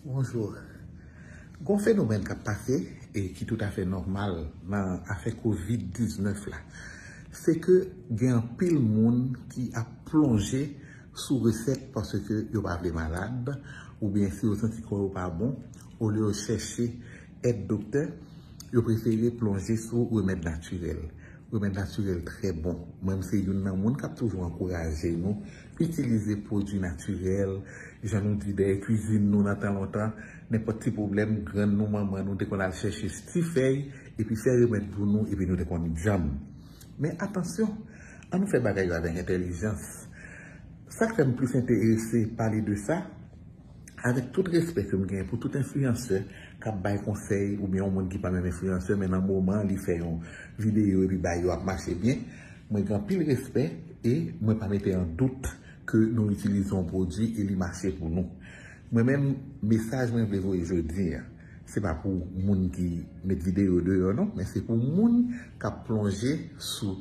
Bonjour. Gon fenomèn kap pase e ki tout afè nòmal nan afè covid 19 la. Se ke gen anpil moun ki ap plonje sou resèt paske yo pa vle malad oubyen si yo santi kò yo pa bon olye yo chèche èd doktè. Yo prefere plonje sou remèd natirèl. Remèd natirèl trè bon. Mwen m se youn nan moun k ap toujou ankouraje nou itilize pwodui natirèl. Jan nou di dèyè kuizin nou nan tan lontan, nenpòt ti pwoblèm, grann nou, manman nou te konn al chèche ti fèy epi fè remèd pou nou epi nou te konn djanm. Men atansyon, an nou fè bagay yo avèk entèlijans. Sa k fè m plis enterese pale de sa, Avèk tout respè ke m genyen pou tout enfliyansè kap bay konsèy oubyen yon moun ki pa menm enfliyansè men nan moman li fè yon videyo epi bagay yo ap mache byen, mwen gen anpil respè e mwen pa mete an dout ke nou itilize yon pwodwi e li mache pou nou. Mwen menm mesaj mwen vle voye jodi an, se pa pou moun ki met videyo deyò non men se pou moun kap plonje sou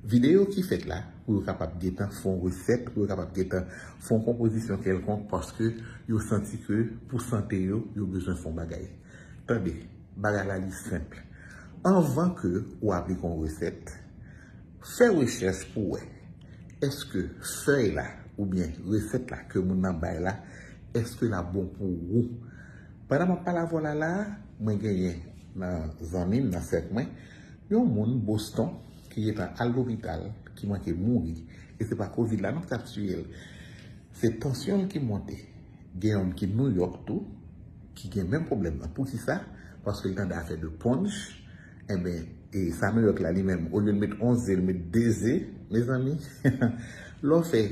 Videyo ki fèt la pou yo kapab gentan fon resèt, pou yo kapab gentan fon konpozisyon kèlkonk paske yo santi ke pou sante yo, yo bezwen fon bagay. Tande, bagay la li senp. Anvan ke ou aplike yon resèt, fè rechèch pou wè eske fèy la oubyen resèt la ke moun nan bay la, eske la bon pou ou. Pandan map pale avè w la la, mwen genyen nan zanmi m, nan sèk mwen, Yon moun Boston ki gentan al lopital ki manke mouri e se pa covid la non ki tap tiyel se tansyon l ki monte gen yonn ki New York tou ki gen menm pwoblèm nan poukisa paske l tande afè de ponch enben e sa New York la li menm olye l met 11 ze l met 2 ze mezanmi lè w fè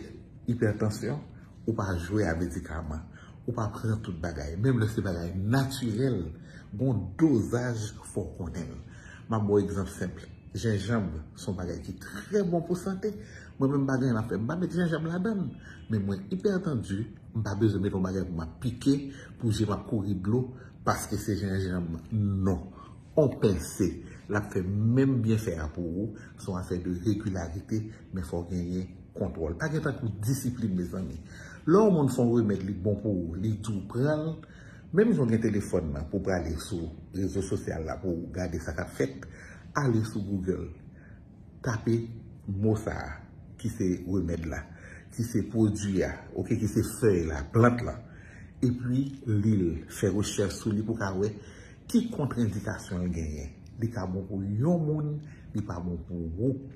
ipètansyon Ou pa jwe a medikaman. Ou pa pran tout bagay. Menm lè se bagay natirèl, gon dozaj fò w konnen l. M ap ba w egzanp senp. Jenjanb se yon bagay ki trè bon pou sante. Mwen menm m pa gen anyen m ap fè, m pa met jenjanb ladan l. Men mwen ipètandu, m pa bezwen met yon bagay pou m ap pike, pou je m ap kouri dlo paske se jenjanb. Non. On pense, l ap fè menm byenfè a pou ou. Se yon afè de regilarite. Men fò genyen kontwòl. Pa gen tankou disiplin mezanmi. Lè yon moun fè yon remèd li bon pou ou, li di w pran l, menm jan w gen telefòn nan pou w prale sou rezo sosyal la pou w gade sa k ap fèt, ale sou Google, tape mo sa a ki se remèd la, ki se pwodui a, ok, ki se fèy la, plant lan, epi li l, fè rechèch sou li pou w ka wè ki kontrendikasyon l genyen. Li ka bon pou yon moun, li pa bon pou ou.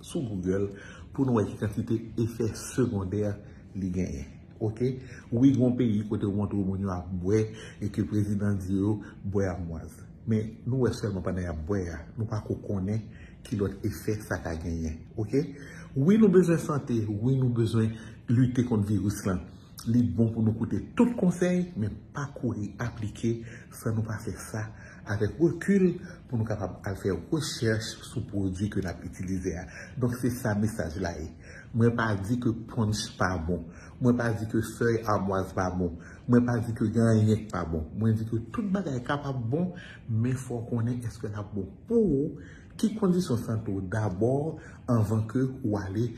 sou Google pou nou wè ki kantite efè segondè li genyen. Ok. Wi gen yon peyi kote ou montre moun yo ap bwè e ke prezidan di yo bwè amwaz. Men nou wè sèlman pandan y ap bwè a. Nou pa ko konnen ki lòt efè sa ka genyen. Ok. Wi nou bezwen sante. Wi nou bezwen lite kont viris lan. Li bon pou nou koute tout konsèy men pa kouri aplike San nou pa fè sa avèk rekil pou nou kapab al fè rechèch sou pwodui ke nap itilize a. Donk se sa mesaj la ye. Mwen pa di ke punch pa bon. Mwen pa di ke fèy amwaz pa bon. Mwen pa di ke gen anyen ki pa bon. Mwen di ke tout bagay kapab bon, men fò w konnen eske lap bon pou ou, ki kondisyon sante w dabò anvan ke ou ale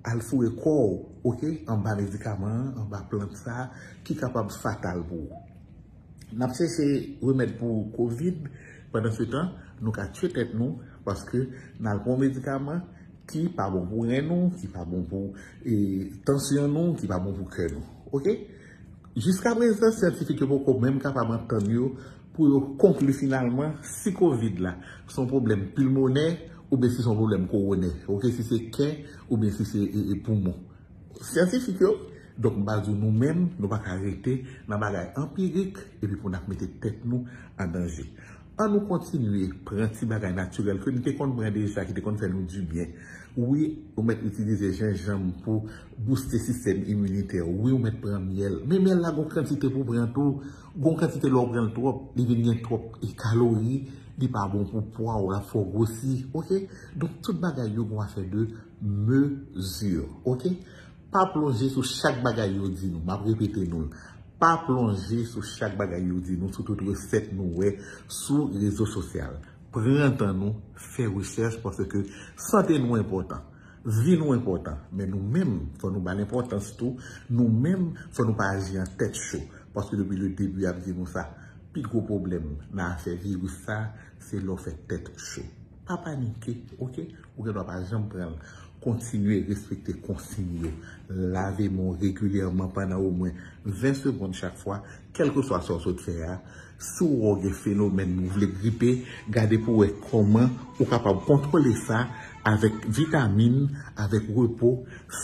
al foure kò w ok anba medikaman an, anba plant sa ki kapab fatal pou ou. N ap chèche remèd pou kovid, pandansetan nou ka tye tèt nou paske n al pran yon medikaman ki pa bon pou ren nou, ki pa bon pou tansyon nou, ki pa bon pou kè nou. Ok? Jiska prezan syantifik yo poko menm kapab antann yo pou yo konkli finalman si kovid la se yon pwoblèm pilmonè oubyen si se yon pwoblèm kowonè, ok, si se kè oubyen si se poumon. Syantifik yo, donk m pral di w nou menm, nou pa ka rete nan bagay anpirik epi pou n ap mete tèt nou an danje. An nou kontinye pran ti bagay natirèl ke n te konn pran deja ki te konn fè nou dibyen. Wi, ou mèt itilize jenjanm pou bouste sistèm iminitè w. Wi, ou mèt pran myèl. Men myèl la gen yon kantite pou w pran tou. Gen yon kantite lè w pran l twòp, li vin gen twòp kalori, li pa bon pou pwa w, l ap fè w gwosi. Ok? Donk tout bagay yo gen yon afè de. Mesure. Ok? Pa plonje sou chak bagay yo di nou. Map repete nou l. Pa plonje sou chak bagay yo di nou sou tout resèt nou wè sou rezo sosyal. Pran tan nou, fè rechèch paske sante nou enpòtan. Vi nou enpòtan. Men nou menm, fò nou ba l enpòtans tou. Nou menm, fò nou pa aji an tèt cho. Paske depi le debi yap di nou sa. Pi gwo pwoblèm nan afè viris sa, se lè w fè tèt cho. Pa panike ok, ou gen dwa pa janm pran l. Kontinye respekte konsiy yo. Lave men w regilyèman pandan omwen 20 segond chak fwa, kèlkeswa sa w sot fè a. Si w wè w gen fenomèn ou vle gripe, gade pou w wè kòman ou kapab kontwole sa avèk vitamin, avèk repo,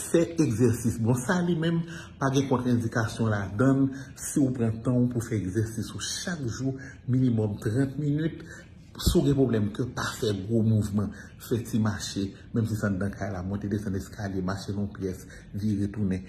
fè egzèsis. Bon, sa li menm pa gen kontrendikasyon ladan l si w pran tan w pou w fè egzèsis ou chak jou, minimòm 30 minit. Si w gen pwoblèm kè, pa fè gwo mouvman. Fè ti mache, menm si se anndan kay la, monte desann eskalye, mache nan yon pyès, vire tounen.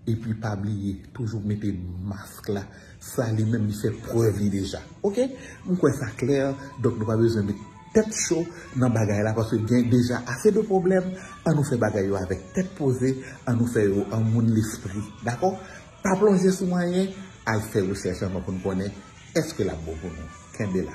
Epi pa bliye, toujou mete mask la. Sa li menm li fè prèv li deja. Ok? M kwè sa klè, donk nou pa bezwen met tèt cho nan bagay la paske gen deja ase de pwoblèm. An nou fè bagay yo avèk tèt poze, an nou fè yo an moun lespri. Dakò? Pa plonje sou anyen, al fè rechèch anvan pou n konnen èske l ap bon pou nou. Kenbe la.